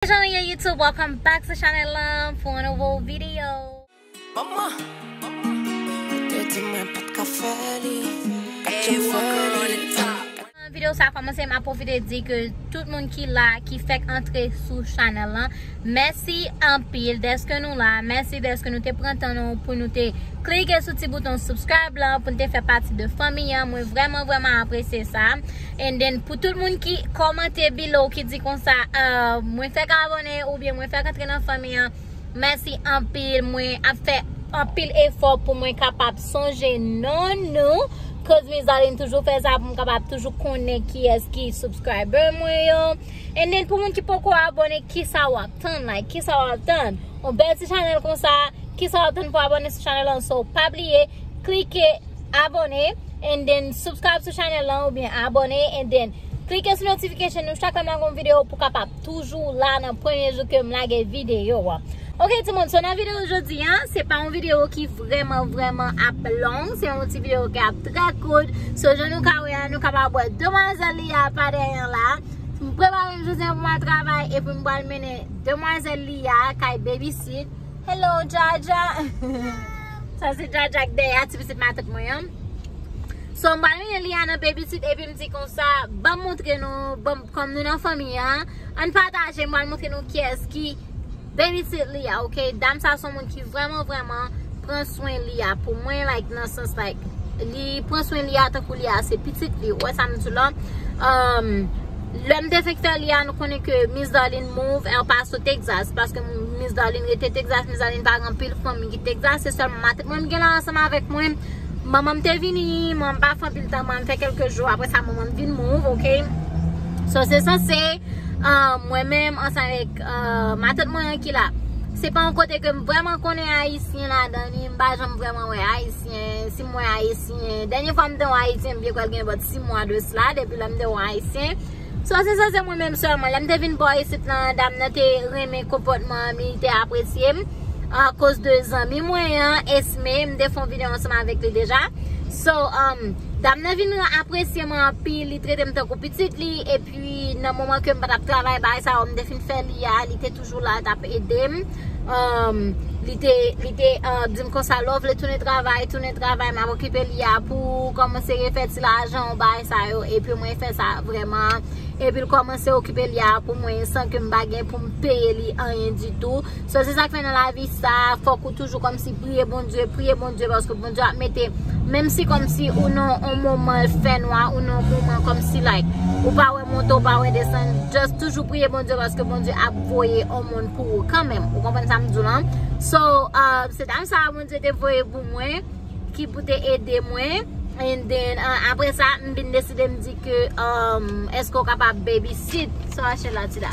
Dejan li ye YouTube welcome back sou chanel lan pou yon nouvo video. Maman, ou te di mwen pat ka fè li, kat jen fè li. Anvan video sa komanse map profite di ke tout moun ki la ki fèk antre sou chanel lan mèsi anpil deske nou la mèsi deske nou te pran tan nou pou nou te klike sou ti bouton subscribe lan pou nou te fè pati de fanmi an mwen vrèman vrèman apresye sa. And then pou tout moun ki kòmante below ki di konsa mwen fèk abòne oubyen mwen fèk antre nan fanmi an mèsi anpil mwen ap fè anpil efò pou mwen kapab sonje non nou cause mes amis m toujou fè sa pou m kapab toujou konnen kiyès ki subscriber mwen yo and then pou moun ki poko abòne kisa wap tann like kisa wap tann yon bèl ti chanèl konsa kisa wap tann pou abòne sou chanèl lan so pa bliye klike Abone and then subscribe sou chanel lan ou byen abone and then Klike sou notification nou chak lèm lage yon video pou kapab toujou la nan premye jou kem lage video wa. Ok ti moun so nan video jodi an se pa yon video ki vreman vreman ap long se yon ti video ki ap trè kout so jan nou ka wè a nou kapab wè demwazèl li a pa dèyè an la m prepare m jodi an pou m al travay epi m pral mennen demwazèl li a kay babysit Hello Jaja. Sa se jaja k dèyè a ti pitit matant mwen an. So m pral mete Liana nan babysit epi m di konsa banm montre nou banm kòm nou nan fanmi an ann pataje m pral montre nou kiyès ki babysit li a ok dam sa son moun ki vrèman vrèman pran swen li a pou mwen like nan sans like li pran swen li a tankou li a se pitit li ou wè sa m di w la euh lè m te fenk fè li a nou konnen ke Miss Darline move El Paso Texas paske Miss Darline rete Texas Miss Darline pa gen anpil fanmi. Te glase sèlman matrik mwen gen la ansanm avèk mwen. Manman m te vini, manman m pa fè anpil tan, manman m fè kèlke jou, aprè sa manman m vin move, ok. So se sanse, mwen menm ansanm avèk matant mwen an ki la. Se pa yon kote ke m vrèman konnen Ayisyen ladan li, m pa janm vrèman wè Ayisyen, si m wè Ayisyen, dènye fwa m te wè yon Ayisyen m vle kwè l gen bòt 6 mwa de sla, depi lè m te wè yon Ayisyen. So se sa se mwen menm sèlman. Lèm te vin bò isit lan dam nan te renmen konpòtman an li te apresyem akoz de zanmi mwen an Esme m te fon video ansanm avèk li deja so dam nan vin apresye mwen anpil li tretem tankou pitit li epi nan moman kem patap travay bagay sa yo m te fin fè li a li te toujou. jou la tap edem li te li te dim konsa lè w vle tounen travay tounen travay map okipe li a pou ou kòmanse refè ti lajan w bay sa yo epi mwen fè sa vrèman epi l kòmanse okipe li a pou mwen san ke m pa gen pou m peye li anyen ditou so se sa k fè nan lavi sa fòk ou toujou kòmsi priye Bondye priye Bondye paske Bondye ap mete menm si kòmsi ou nan yon moman fè nwa ou nan yon moman kòmsi like ou pa wè monte ou pa wè desann just toujou priye Bondye paske Bondye ap voye yon moun pou ou kanmenm ou konprann sa m di w lan so se dam sa Bondye te voye pou mwen ki pou te ede mwen and then apre sa m vin deside m di ke èske ou kapab baby sit sou Rachella Tida.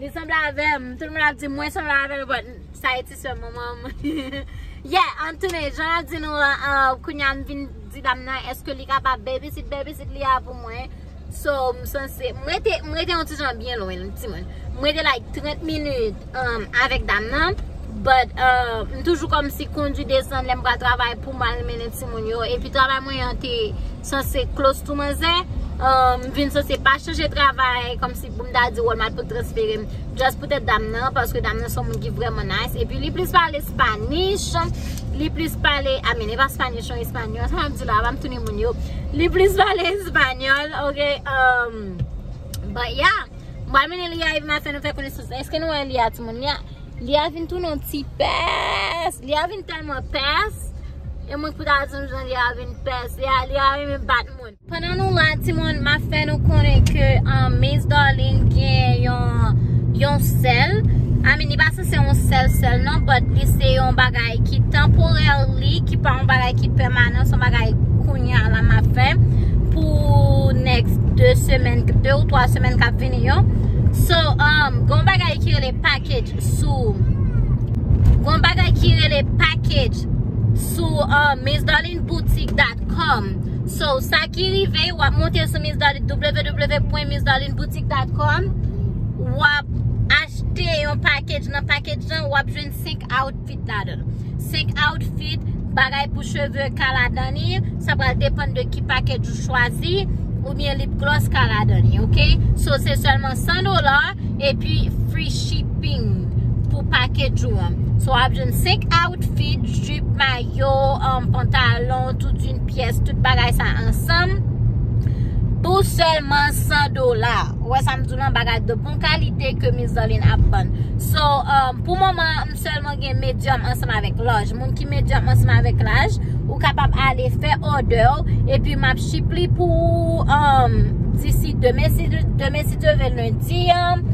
Li sanble avèm, tout moun ap di mwen sanble avèl but sa etiswe manmanm Yeah antoune jan map di nou an kounya m vin di dam nan eske li kapab babysit babysit li a pou mwen So m sanse m rete m rete yon ti jan byen lwen l timoun M rete like 30 minit avèk dam nan but m toujou kòmsi kondi desann lèm pral travay poum al mennen timoun yo epi travay mwen an te Sa se close to manzè. M vin sanse pa chanje travay kòmsi pou m ta di Walmart pou transfere m. Just poutèt dam nan, paske dam nan se yon moun ki vrèman nice. Epi li plis pale Spanish, li plis pale, I mean e pa Spanish non, Espanyòl. Sa map di la, pa m tounen moun yo. Li plis pale Espanyòl, ok. But yeah, m pral mennen li a epi m ap fè nou fè konesans. Eske nou wè li a timoun? Li a vin tounen yon ti pès. Li a vin tèlman pès. E mwen pou ta di nou jan li a vin pès. Li a renmen bat moun. Pandan nou la ti moun ma fè nou konnen ke Miss Darline gen yon sèl. I mean li pa se se yon sèl sèl non. But li se yon bagay ki temporarily. Ki pa yon bagay ki pèmanan. Son bagay kounye a la ma fè. Pou next 2 semen. 2 ou 3 semen kap vini yo. So, um, gon bagay ki rele. package sou gon bagay ki rele package sou uh, missdarlineboutique.com so sa ki rive wap monte sou www.missdarlineboutique.com wap achte yon package nan package lan wap jwenn 5 out outfit ladan l. 5 outfit, bagay pou cheve ka ladan li, sa pral depann de ki package ou chwazi, oubyen lip gloss ka ladan li ok. So se sèlman 100 dola epi free shipping pou package ou an. So wap jwenn 5 outfit, jupe, mayo, pantalon, tout yn pyès, tout bagay sa ansanm pou sèlman 100 dola. Ou wè sa m di w lan, bagay de bon kalite ke Miss Darline ap vann. So pou moman. Sèlman gen medyòm ansanm avèk laj. Moun ki medyòm ansanm avèk laj, ou kapab ale fè òdè ou, epi m ap ship li pou ou disi demen, si demen si Dye vle lendi an.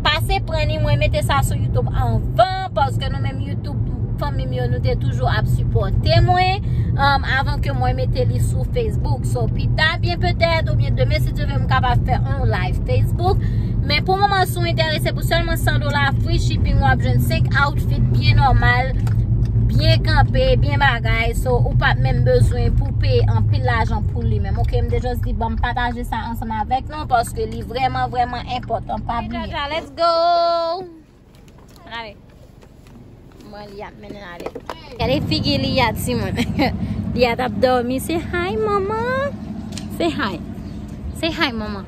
Pase pran li, mwen mete sa sou Youtube anvan, paske nou menm Youtube, fanmi m yo, nou te toujou ap sipòte mwen, avan ke mwen mete li sou Facebook. So, pita byen petèt, oubyen demen si Dye vle, m kapab fè on live Facebook. Men pou moman sou entè. Se pou sèlman 100 dola free shipping wap jwenn 5 outfit byen nòmal, byen kanpe, byen bagay so ou pap menm bezwen pou peye anpil lajan pou li menm ok m te just di banm pataje sa ansanm avèk nou paske li vrèman vrèman enpòtan pa bliye. Hey Jaja let's go! Ann ale. Mwen li ap mennen ale. Kade figi li ya ti mwen. Li ya tap dormi. Se hi mama. Se hi. Se hi mama.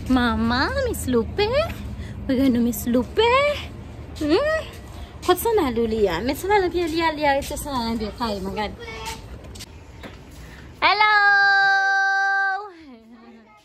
Mama mis loupe. Mwen gen nou mis loupe. Hmm. Kot san dalou li ya. Met san dalou piye li ya. Li ya rete san dalou piye. Kade mwen gade. Hello.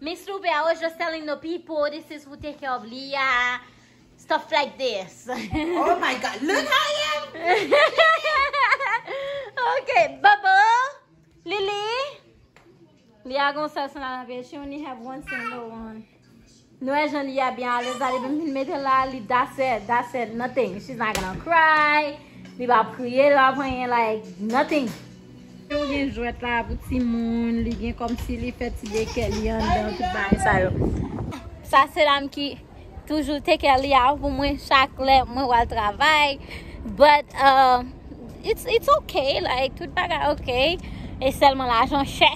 Miss Loubè I was just telling the people this is who take care of Leah stuff like this Oh my god look how I am Ok Bobo Lili Leah gon sèl san nan vye she only have one single one Nou wè jan Leah byen alèz la depi m fin mete l la li that's it that's it nothing she's not gonna cry li pa ap kriye li pa ap anyen like nothing. Yo gen jwèt la pou timoun, li gen kòmsi li fè ti dekè li anndan tout bagay sa yo. Sa se lam ki toujou take care li a pou mwen chak lè mwen wal travay. But uh, it's, it's okay, like tout bagay okay. E sèlman lajan chè.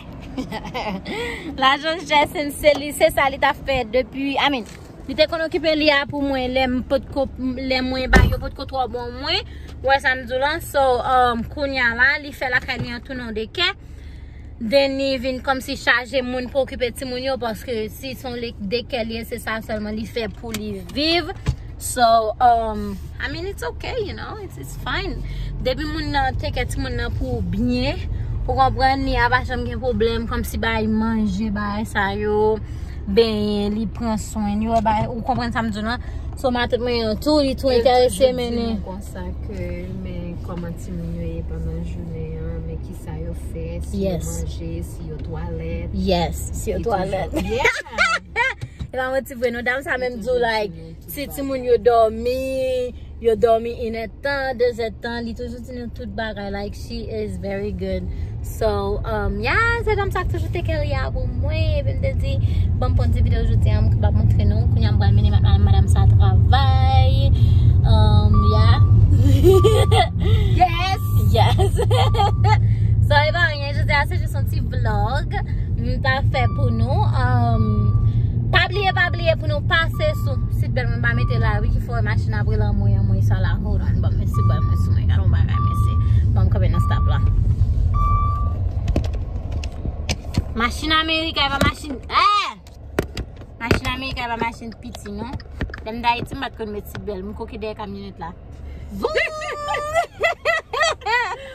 lajan chè se li se sa li ta fè depi, I mean, Li te konn okipe li a pou mwen lè m pot ko lè mwen bagay yo pot ko twò bon mwen ou wè sa m di w lan so kounya la li fè lakay li an tou non de kè den li vin kòmsi chaje moun pou okipe timoun yo paske si son li de kè li ye se sa sèlman li fè pou li viv so I mean it's ok you know. it's fine depi moun nan take care timoun nan pou byen ou konprann li ava janm gen problem komsi bay manje bay sa yo benyen li pran swen yo bay ou konprann sa m di w lan so matant mwen an tou li tou enterese mennen yo toujou di nou konsa ke men koman timoun yo ye pandan jounen an men kisa yo fè si yo manje si yo twalèt yes si yo twalèt yeah epa m manti vre non dam sa menm di w like Ti timoun yo dòmi, yo dòmi 1 è tan, 2 è tan, li toujou di nou tout bagay like she is very good so um yeah se dam sa k toujou take care Lia pou mwen epi m te di bon m pran ti video jodi an m kapab montre nou kounye a m pral mennen madam sa travay um yeah yes yes so epa anyen. Ebyen jodi a se jis yon ti vlog m ta fè pou nou Pa bliye pa bliye pou nou pase sou sit bèl mwen pa mete la wi ki fè w wè machin ap rele anmwey anmwey sa la hold on banm mete sit bèl mwen sou mwen gade yon bagay mesye banm kanpe nan stop la Machin ameriken pa machin eeh Machin ameriken pa machin piti non Lè m t ayiti m pat konn mete sit bèl m koke dèyè kamyonet la Vouu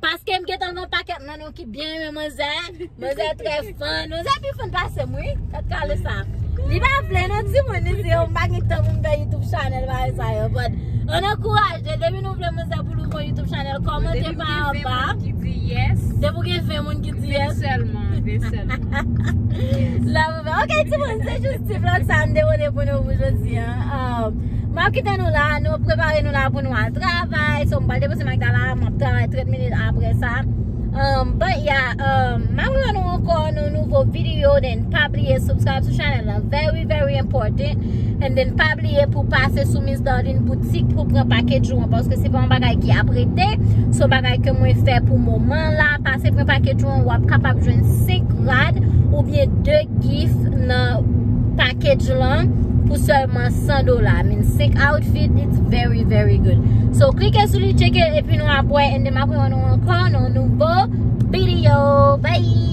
Paske m gentan gon pakèt nan nou ki byen renmen manzè, manzè trè fan, manzè pi fan pase m wi, kat kale sa. Li pa vle non ti moun li di yo m pa gen tan pou m fè YouTube channel bagay sa yo but an ankouraje depi nou vle manzè pou louvri yon YouTube channel kòmante pa anba. Depi w gen 20 moun ki di yes. Depi w gen 20 moun ki di yes. 20 sèlman, 20 sèlman. Yes. Ok ti moun se jous ti vlog sa m te pote pou nou pou jodi an M ap kite nou la nou prepare nou la pou nou al travay So m pral depose Magdala m ap travay 30 minit apre sa But ya M ap revan nou ankò nan yon nouvo video Then pa bliye subscribe sou chanèl la Very very important And then pa bliye pou pase sou. nan yn boutik pou pran package ou an paske se pa yon bagay ki ap rete se yon bagay ke mwen fè pou moman la pase pran package ou an wap kapab jwenn 5 rad ou byen 2 gif nan package ou lan pou selman 100 dola min 5 outfit it's very very good so klike sou li cheke epi nou ap wè ende m ap wè nou ankò nan nouvo video bye.